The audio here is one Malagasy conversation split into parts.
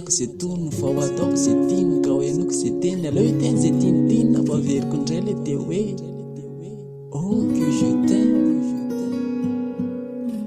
Ataoko ze tony vao ataoko ze tiny Kao henoiko ze teny aleo hiteny ze tiny tiny Vao averiko indray le teo hoe Oh que je t'aime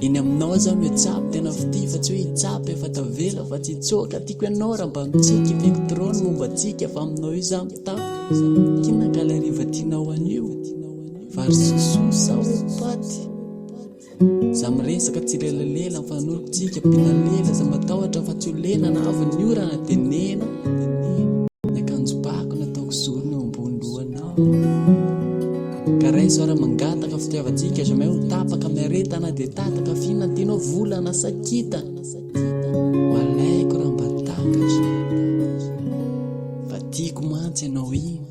Eny aminao zaho mihatsabo tena fitia Fa tsy hoe hitsapa efa tavela fa tsy hitsoaka Tiako ianao raha mba mitsiky Hiviko trop ny momba antsika Fa aminao io zaho mitaky Kina ka le hariva tianao anio Vary sosoa sa hoe paty Za miresaka tsy lelalela fa nolo tsika mpinalela za matahotra fa tsy ho lena na avy ny orana de nena ny akanjo bako nataoko zorony eo ambony lohanao ka raiso ara mangataka fitiavantsika jamais ho tapaka miaretana de tataka fina tianao volana sa kitana ho alaiko raha mba takatra fa tiako mantsy ianao iny